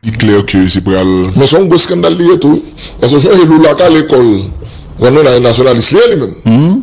Li klè ke se pral. Men se yon gwo skandal li ye tou wi. Paske w sonje Lula ka lekòl. Ou konprann? Nasyonalis li ye li menm.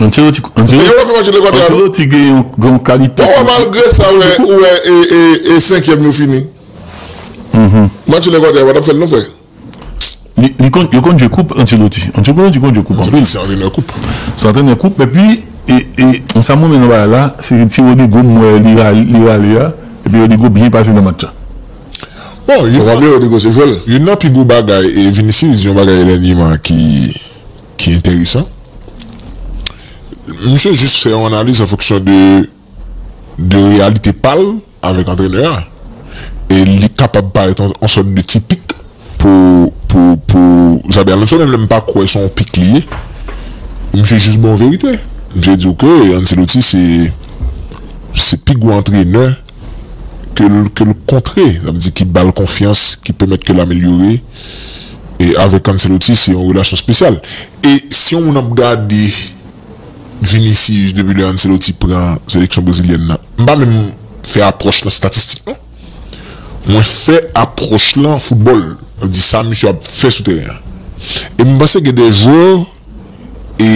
Ancelotti gen yon kalite pou li. Malgre sa ou wè e senkyèm yo fini. Match Ekwatè a pa t ap fè l non frè. Li konn yo konn jwe koup Ancelotti. Ancelotti konn jwe koup anpil. Se antrenè koup. Se antrenè koup epi e sa m renmen nan bagay la se ti Rodrygo m wè li rale a epi Rodrygo byen pase nan match la. Bon, youn nan pi gwo bagay e Vinicius di yon bagay dènyèman ki. ki enteresan. Misye jis fè yon analiz an fonksyon de de reyalite pa l avèk antrenè a. E li kapab parèt yon sòt de ti pik pou pou pou Xabi Alonso menm lè m pa kwè se yon pik li ye. Misye jis bon verite. Misye di w ke Anceloti se se pi gwo antrenè ke l ke l kontre. Sa vle di ki ba l konfyans, ki pèmèt ke l amelyore. E avèk Ancelotti se yon relasyon spesyal. E si yon moun ap gade Vinicius depi lè Ancelotti pran seleksyon brezilyèn nan, m pa menm fè apwòch nan statistik non. Mwen fè apwòch lan foutbòl, sa vle di sa misye ap fè sou teren an. E m panse gen de jwè e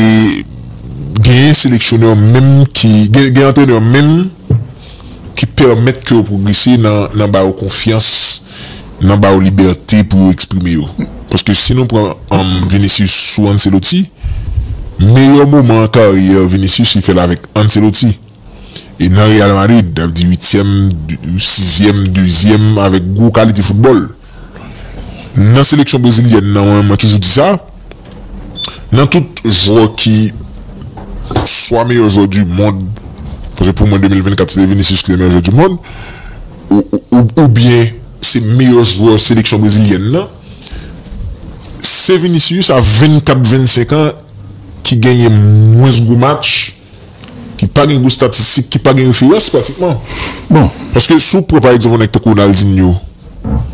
genyen seleksyonè menm ki gen antrenè menm ki pèmèt ke yo pwogrese nan ba yo konfyans nan ba yo libète pou yo eksprime yo paske si nou pran Vinicius sou Ancelotti meyè moman karyè Vinicius li fèl avèk Ancelotti. E nan Real Madrid, sa vle di uityèm, sizyèm, dezyèm avèk gwo kalite foutbòl. Nan seleksyon brezilyèn nan, mwen menm mwen toujou di sa, nan tout jwè ki swa meyè jwè di mond, paske pou mwen 2024 se te Vinicius ki te meyè jwè di mond, oubyen se meyè jwè seleksyon brezilyèn nan, se Vinicius a 24, 25 an ki genyen mwens gwo match, ki pa gen gwo statistik, ki pa gen referans pratikman. Bon, paske si w pran pa egzanp yon nèg tankou Ronaldinho,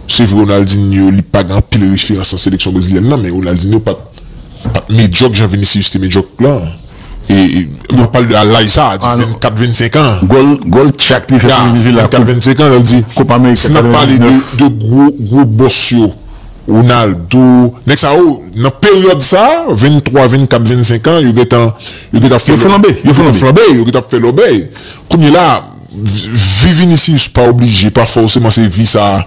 se vre Ronaldinho li pa gen anpil referans nan seleksyon brezilyèn nan, men Ronaldinho pa t medyòk jan Vinicius te medyòk la. E m ap pale de a laj sa a, di 24, 25 an. Gòl tchak li fè pou Venezuela koup. Ya, 24, 25 an, sa vle di, si n ap pale de gwo bòs yo, Ronaldo, nèg sa yo nan peryòd sa a, 23, 24, 25 an, yo gentan. Yo gin tap fè flanbe, yo gin tap flanbe, yo gin tap fè lòbèy. Kounye la, vi Vinicius pa oblije, pa fòseman se vi sa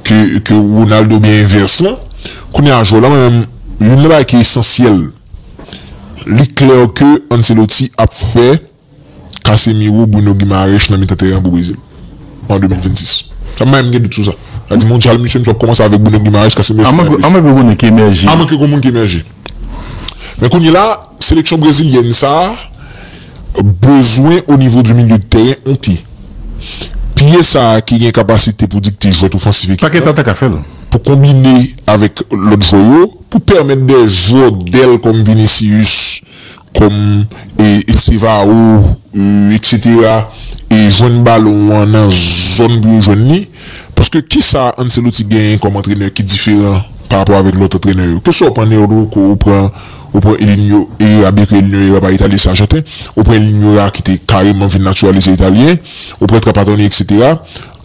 ke Ronaldo oubyen envès lan. Kounye la jwè lan mwen menm, youn nan bagay ki esansyèl, li klè ke Ancelotti ap fè Casemiro, Bruno Guimaraes nan mitan tèren an pou Brezil an 2026. Sa m pa menm gen dout sou sa. Sa di mondyal misye misye ap kòmanse avèk Bruno Guimaraes, Casemiro. Amwen ke gen moun ki emèje. Amwen ke gen moun ki emèje. Men kounye la. Seleksyon brezilyèn sa bezwen o nivo di milye de tèren on pye. Pye sa ki gen kapasite pou dikte jwèt ofansif ekip lan, pou konbine avèk lòt jwè yo, pou pèmèt dè jwè dèl kòm Vinicius, kòm Estevao etc jwenn balon an nan zòn pou yo jwenn li. Paske kisa Ancelotti genyen kòm antrenè ki diferan pa rapò avèk lòt antrenè yo? Ke sa w pran Neurdo ke w pran Ou pran El Niño Era byen ke El Niño Era pa italyen se ajanten, ou pran El Niño Era ki te kareman vin natiralize italyen, ou pran Trapattoni eksetera.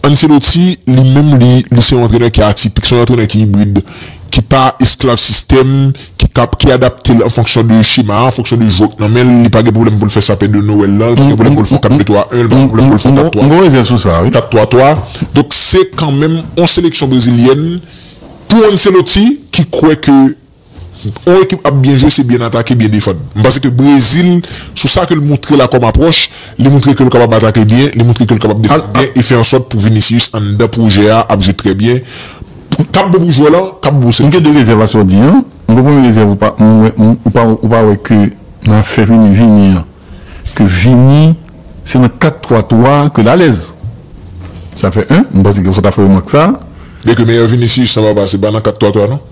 Ancelotti li menm li li se yon antrenè ki atipik, se yon antrenè ki ibrid, ki pa esklav sistèm, ki kap ki adapte l an fonksyon de chema a, an fonksyon de jwè k nan men l, li pa gen pwoblèm pou l fè sapè de Nowèl lan, li pa gen pwoblèm pou l fè yon 4 2 3 1, li pa gen pwoblèm pou l fè yon 4 3 4 3 3. Donk se kanmenm yon seleksyon brezilyèn pou Ancelotti ki kwè ke On ekip ap byen jwe se byen atake, byen defann. M panse ke Brezil, sou sa ke l montre la kòm apwòch, li montre ke l kapab atake byen, li montre ke l kapab defann byen e fè ansòt pou Vinicius anndan pwojè a ap jwe trè byen, kap bon pou jwè lan, kap bon pou M gen 2 rezèv a sa w di an. M gen premye rezèv ou pa m wè ou pa ou pa wè ke nan afè Vini Vini an ke Vini se nan 4 3 3 ke l alèz. Sa fè 1, m panse ke fò w ta fè remak sa. Byen ke meyè Vinicius lan pa pase pa nan 4 3 3 non.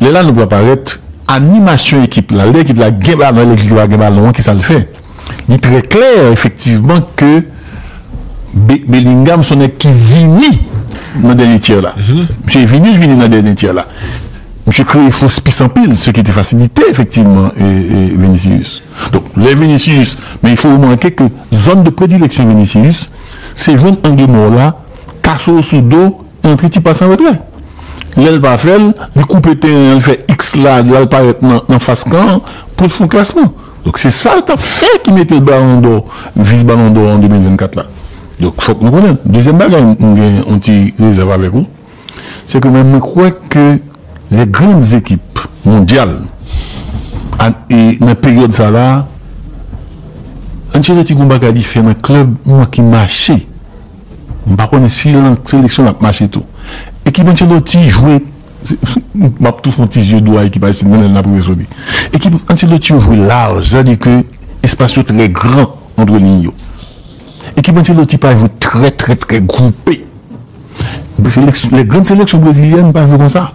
Lè Lanoup la parèt, animasyon ekip la, lè ekip la gen balon, lè ekip la pa gen balon an, ki sa l fè? Li trè klè efektivman ke Bellingham se yon nèg ki vini nan dènye tyè la. Misye vini, l vini nan dènye tyè la. Misye kreye fo spis anpil, se ki te fasilite efektivman Vinicius. Donk, lè Vinicius, men il faut remarquer ke zòn de predileksyon Vinicius, se jwenn angle mò w la, kase w sou do, Antre ti pas an retrè. Lè l pa fè l, li koupe teren an, li fè iks la, li al parèt nan fas kan an pou l fon klasman. Donk se sa l t ap fè ki mete l balon dò, vis balon dò an 2024 la. Donk fòk nou konnen l. Dezyèm bagay m gen yon ti rezèv avèk ou, se ke mwen mwen kwè ke lè gran ekip mondyal a e nan peryòd sa la, Ancelotti gen yon bagay li fè nan klèb mwen ki mache. M pa konnen si l nan seleksyon l ap mache tou. Ekip Ancelotti jwe M ap tou fè yon ti zye dlo a ekip Ayisyen nan lè n ap rive sou li. Ekip Ancelotti yo jwe laj, sètadi ke espas yo trè gran antre liy yo. Ekip Ancelotti pa jwe trè trè trè gwoupe. Lè gran seleksyon brezilyèn pa jwe konsa.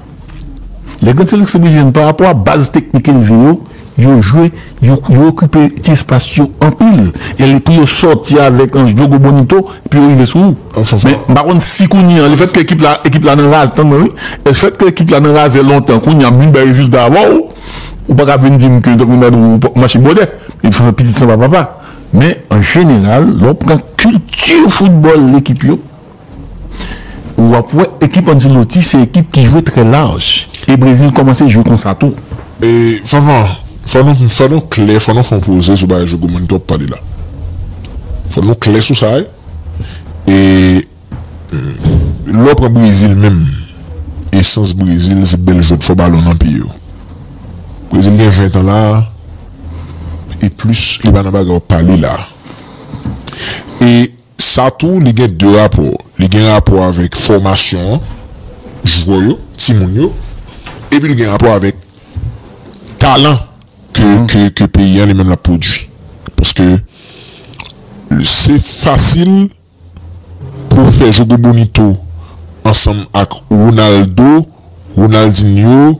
Lè gran seleksyon brezilyèn parapò a baz teknik elve yo. Yo jwe, yo okipe ti espas yo anpil. E lepri yo sòti avèk an jogo bonito epi yo rive sou ou. Men m pa konn si kounye an lefètke ekip la ekip la nan razè tann mwen wi lefètke ekip la nan razè lontan kounye an vin bay rezilta avè w ou pa ka vin di m ke Doktè Nadou ou pa mache bwòdè e m se pitit sanba papa. Men an jeneral lè w pran kilti foutbòl ekip yo. Ou ap wè ekip Ancelotti se ekip ki jwe trè laj e Brezil kòmanse jwe konsa tou. E Vanvan, fò nou fò nou klè, fò nou fè yon poze sou bagay Jogo Mannito ap pale la. Fò nou klè sou sa wi. E lè w pran Brezil menm, esans Brezil se bèl jwèt fò balon nan pye yo. Brezil gen 20 tan la a e plis li pa nan bagay w ap pale la a. E. Sa tou li gen 2 rapò, li gen rapò avèk fòmasyon an, jwè yo, timoun yo, epi li gen rapò avèk talan ke ke peyi an li menm l ap pwodui. Paske se fasil pou w fè Jogo Bonito ansanm ak Ronaldo, Ronaldinho,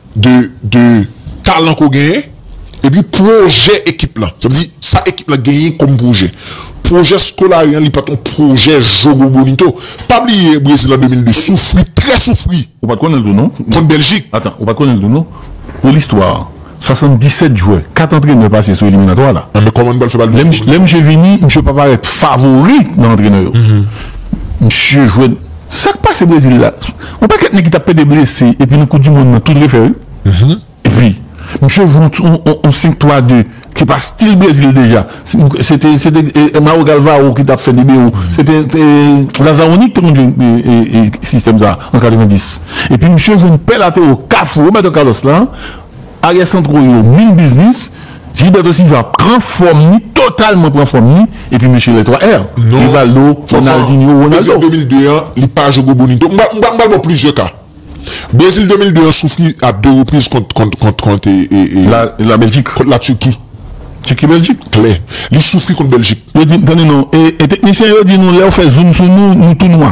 de talan ke w genyen epi pwojè ekip lan. Sa vle di, sa ekip lan genyen kòm pwojè. Pwojè Scolari an li pa t yon pwojè Jogo Bonito. Pa bliye Brezil an 2002 soufri, trè soufri. Ou pa t konnen l tou non. Kont Bèljik. Atan, ou pa t konnen l tou non. Pou listwa, 77 jwè, 4 antrenè pase sou eliminatwa la. An men kòman nou pral fè pale de Jogo Bonito? Lè misye vini, misye pa parèt favori nan antrenè yo. Misye jwe. Sak pase brezil la yon pakèt nèg ki tap pede blese epi nan koup du mond nan tout refè wi epi misye jwe yon 5 3 2 ki pa stil brezil deja se te se te mauro galvao ki tap fè libero se te lazaroni ki te konn jwe sistèm sa an 90 epi misye jwenn pè latero kafou roberto carlos la. Aryè santro yo min biznis, Gilberto Silva pran fòm li, totalman pran fòm li, epi mesye lè 3 R, Rivaldo, Ronaldinho, Ronaldo. Brezil 2002 an, li pa jwe gwo bonito. M pral m pral ba w plizyè ka. Brezil 2002 an soufri a 2 repriz kont kont kont kont e e e La la Beljik. kont la Turki. Tiki Beljik. Klè. Li soufri kont Beljik. Yo di, tande non, e e teknisyen yo di nou lè yo fè zoum sou nou, nou tou nwa.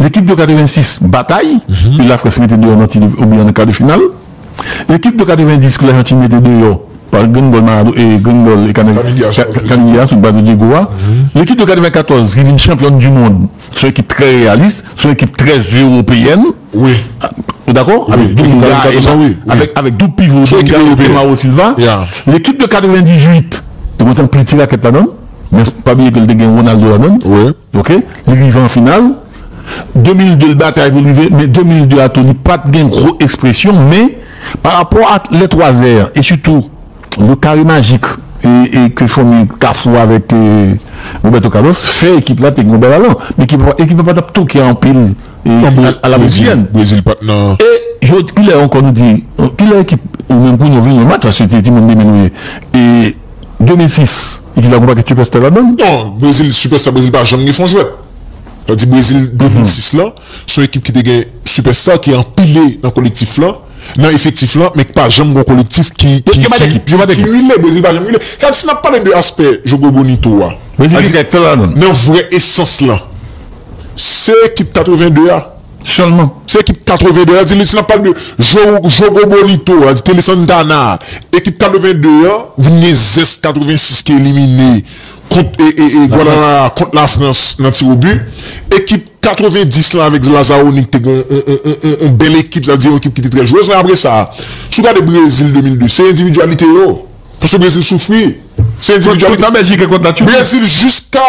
Lekip de 86 batay e Lafrans mete deyò nan tir o bi an nan kar de final. Lekip de 90 ke Lajantin mete deyò pa grenn gòl Marado e grenn gòl Kaniglia sou baz de Dyego a. Lekip de 94 ki vin chanpyòn di mond son ekip trè reyalis, son ekip trè eropeyèn. Ou dakò? Avèk Dunga, avèk doub pivo Dunga e Mauro Silva. Lekip de 98 te konn fè anpil ti rakèt ladan l men pa bliye ke l te gen Ronaldo ladan l. Ok li rive an final 2002 l batay pou l rive men 2002 a tou li pat gen gwo ekspresyon men pa rapò ak lè 3 zè an e sitou le kare majik e ke fanmi kafou avèk Roberto Carlos fè ekip la te gen yon bèl alan men ekip la pa tap toke anpil a la brezilyèn e jodi kilè ankò nou di kilè ekip ou menm pou nou vin yon match paske se ti moun 2000 nou ye e. 2006 ekip la konpa gen sipèsta ladan l? Non, Brezil sipèsta Brezil pa janm gen fon jwèt. Sa vle di Brezil 2006 la se yon ekip ki te gen sipèsta ki anpile nan kolektif la, nan efektif la men ki pa janm gen yon kolektif ki rile. Brezil pa janm rile. Sa vle di si n ap pale de aspè Jogo Bonito a, sa vle di nan vrè esans lan se ekip 82 a. Sèlman. Se ekip 82 an, di li si n ap pale de Jogo Bonito a, di Tele Santana a, ekip 82 an vin gen zès 86 ki elimine kont Guadalajara, kont Lafrans nan tiwobi. Ekip 90 lan avèk Zlazaroni ki te gen yon bèl ekip, sa vle di yon ekip ki te trè jwez. Men apre sa, si w gade Brezil 2002, se endividyalite yo. Paske Brezil soufri. Se endividyalite. Kont la Bèljik e kont la Turki. Brezil jiska.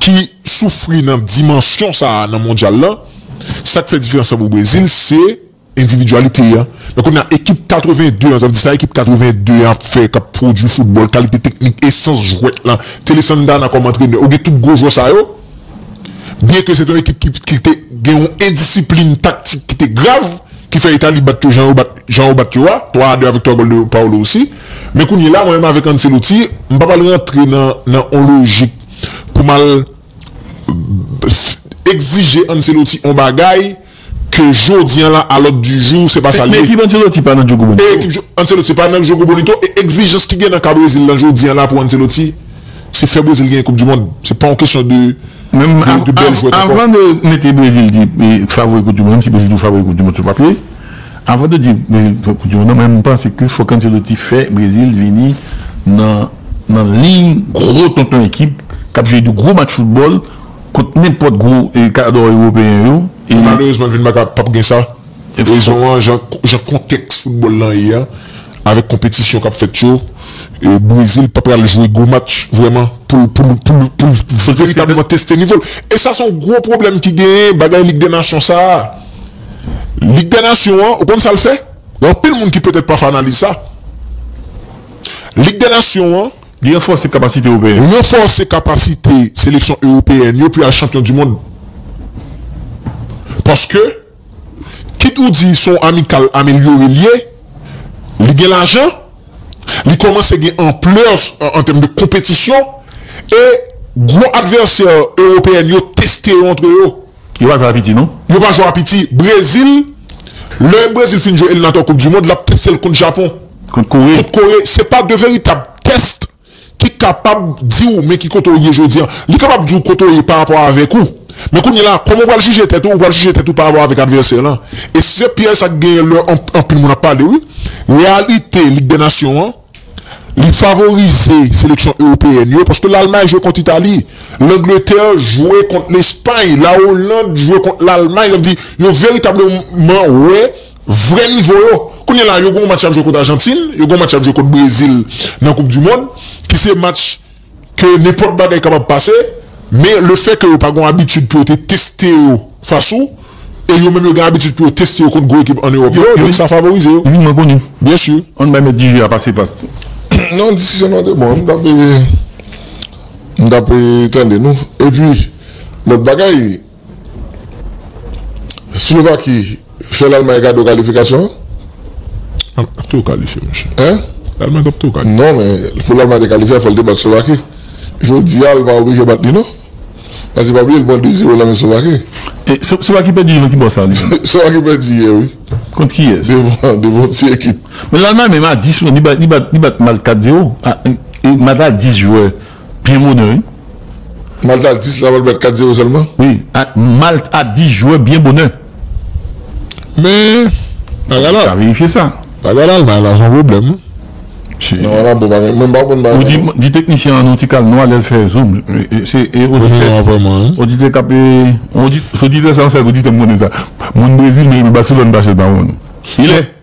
ki soufri nan dimansyon sa a nan mondyal la, sa k fè diferans la pou Brezil se endividyalite a. Men kounye a ekip 82 an, sa vle di sa ekip 82 an ap fè, k ap pwodui foutbòl, kalite teknik, esans jwèt la, Tele Santana kòm antrenè, ou gen tout gwo jwè sa yo, byen ke se te yon ekip ki te gen yon endisiplin taktik ki te grav, ki fè Itali bat yo jan yo bat yo a, 3 a 2 avèk 3 gòl de Paolo Rossi. Men kounye la mwen menm avèk Ancelotti, m pa pral rantre nan nan on lojik pou m al egzije Ancelotti on bagay ke jodi an la a lòd di jou se pa sa l ye. Men ekip Ancelotti pa nan Jogo Bonito. E ekip Ancelotti pa nan Jogo Bonito e egzijans ki gen nan ka Brezil lan jodi an la pou Ancelotti se fè Brezil genyen koup di mond. Se pa on kesyon de de bèl jwèt ankò. Avan de mete Brezil di favori koup di mond, menm si Brezil tou favori koup di mond sou papye, Avan de di Brezil fè koup di mond lan mwen panse ke fòk Ancelotti fè Brezil vini nan nan liy gwo tonton ekip kap jwe de gwo match foutbòl kont nenpòt gwo kadò ewopeyen yo e Malerezman vin baka pap gen sa rezon an jan jan kontèks foutbòl lan ye an avèk konpetisyon kap fèt yo Brezil pa pral jwe gwo match vrèman poul poul poul poul veritableman teste nivo l e sa son gwo pwoblèm ki genyen bagay lig dè nasyon sa. Lig dè nasyon an, ou konn sa l fè? Gen anpil moun ki petèt pa fè analiz sa. Lig dè nasyon an. Li ranfòse kapasite ewopeyen yo. Ranfòse kapasite seleksyon ewopeyèn yo pou y al chanpyon di mond. Paske, kit ou di se yon amikal amelyore l ye, li gen lajan, li kòmanse gen anplè an tèm de konpetisyon e gwo advèsè ewopeyèn yo teste yo antre yo. Yo pa jwe a piti non. Yo pa jwe a piti. Brezil, lè Brezil fin jwe eliminatwa koup di mond, lap teste l kont Japon. Kont Kore. Kont Kore. Se pa 2 veritab test ki kapab di w men ki kote w ye jodi an. Li kapab di w kote w ye pa rapò avèk ou. Men kounye la, kòman w pral jije tèt ou, ou pral jije tèt ou pa rapò avèk advèsè lan. E se pyèj sa k genyen lè anpil moun ap pale wi. Reyalite Lig dè nasyon an, Li favorize seleksyon ewopeyèn yo paske Lalmay jwe kont Itali, Langletè jwe kont Lespay, Lawoland jwe kont Lalmay. Sa vle di yo veritableman wè vrè nivo yo. Kounye la yo gen yon match y ap jwe kont Ajantin, yo gen yon match y ap jwe kont Brezil nan koupdimond ki se match. ke nenpòt bagay kapab pase, men le fè ke yo pa gon abitid pou yo te teste yo fas ou, e yo menm yo gen abitid pou yo teste yo kont gwo ekip an Ewòp yo, donk sa favorize yo. Wi, mwen konnen. Byen si. An n bay mèt di jeu a pase pas tou. Non, diskisyon nou an te bon. M t ap, m t ap tande nou. Epi, lòt bagay. Silovaki fè lalmay kado kalifikasyon an. Lalmay tap tou kalifye monchè. Hein? Lalmay tap tou kalifye. Non men pou lalmay te kalifye fòl te bat slovaki. Jodi a li pa oblije bat li non. Paske pa bliye li pran 2 zero nan men slovaki. E slovaki pèdi nan ki bò sa li menm? Slovaki pèdi yè wi. Kont kiyès? Devan yon ti ekip. Men lalmay menm a 10 li bat li bat mal 4 zero. Li bat a 10 jwè. Byen bonè wi. Malte a 10 la pral bat 4 0 sèlman? Wi Malte a 10 jwe byen bonè. Men bagay la. Ka verifye sa. Bagay Lalmay la son pwoblèm wi. Non ala bon bagay. Mwen pa konn bagay la non. Di teknisyen an yon ti kal nwa lèl fè zoom. Se oditè kap e. Oditè sa se oditè m konnen sa. Moun Brezil men Barcelone pa chèl pa wonn. Ilè.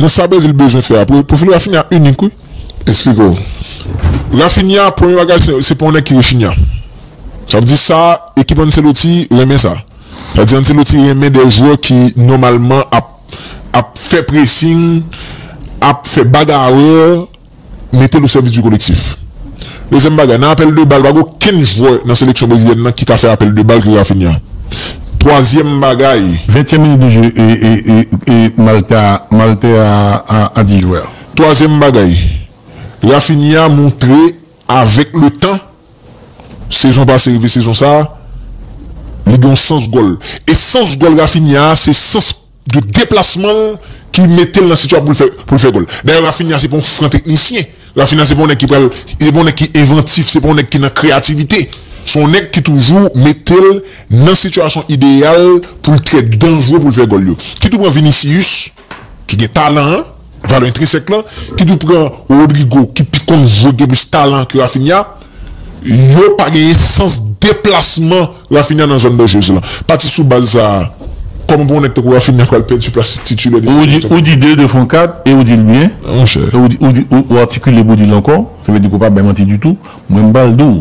Nan sa Brazil bezwen fè a pou pou fini Raphinha inik wi. Esplike w. Raphinha premye bagay se se pa yon nèg ki rechinya. Sa vle di sa ekip Ancelotti renmen sa. Sa vle di Ancelotti renmen de jwè ki nòmalman ap ap fè pressing, ap fè bagarreur. mete l o sèvis di kolektif. Dezyèm bagay, nan apèl de bal pa gen okenn jwè nan seleksyon brezilyèn nan ki ka fè apèl de bal ke Raphinha. Twazyèm bagay. Ventyèm minit de jeu e Malte a a di jwè a. Twazyèm bagay, Raphinha montre avèk le tan, sezon pase rive sezon sa, li gen yon sans gòl. E sans gòl Raphinha a se sans. de deplasman l ki mete l nan sitya pou l fè pou l fè gòl. Dayè Raphinha se pa yon fran teknisyen, Raphinha se pa yon nèg ki pral se pa yon nèg ki envantif, se pa yon nèg ki nan kreyativite. Se yon nèg ki toujou mete l nan sitiyasyon ideyal pou l trè danjre pou l fè gòl yo. Kit ou pran Vinicius ki gen talan an, Valè entresèk lan, ki tou pran Rodrygo ki pi konn jwe gen plis talan ke Raphinha, yo pa genyen sans deplasman Raphinha nan zòn danjrez lan. Pati sou baz sa a, kòman pou yon nèg tankou Raphinha pral pèdi plas titilè li genyen kont Everton? Ou di 2 de fon 4 e ou di l byen. Ou atikile pou w di l ankò. Sa vle di ke w pa bay manti ditou. Mwen m pral di w,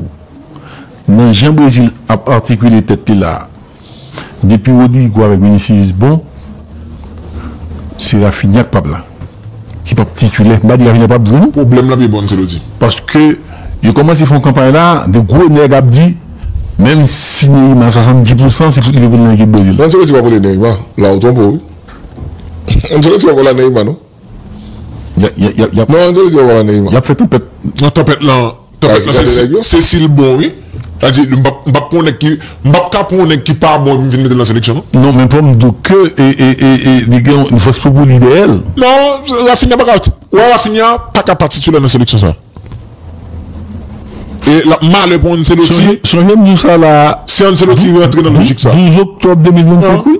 nan jan Brezil ap atikile tèt li la a, Depi Rodrigo avèk Vinicius bon se Raphinha ki pap la, ki pap titulè. M pa di Raphinha pap jwe non. Pwoblèm la pi bon Ancelotti. Paske yo kòmanse fè yon kanpay la, de gwo nèg ap di menm si Neymar 70 pou san se fout li te pou nan ekip Brezil. Ancelotti pap rele Neymar la ou twonpe w wi. Ancelotti pap ala Neymar non. Yap fè tanpèt lan Tanpèt lan se si l bon wi Sa vle di m pap pran yon nèg ki M pap ka pran yon nèg ki pa bon epi m vin mete l nan seleksyon non Non men fò m di w ke li gen yon fòs poupou li dèyè l Non Raphinha paka Ou wè Raphinha paka pa titulè nan seleksyon sa E l ap malè pou Ancelotti Sonje m di w sa la a Si Ancelotti rantre nan lojik sa a 12 oktòb 2025 wi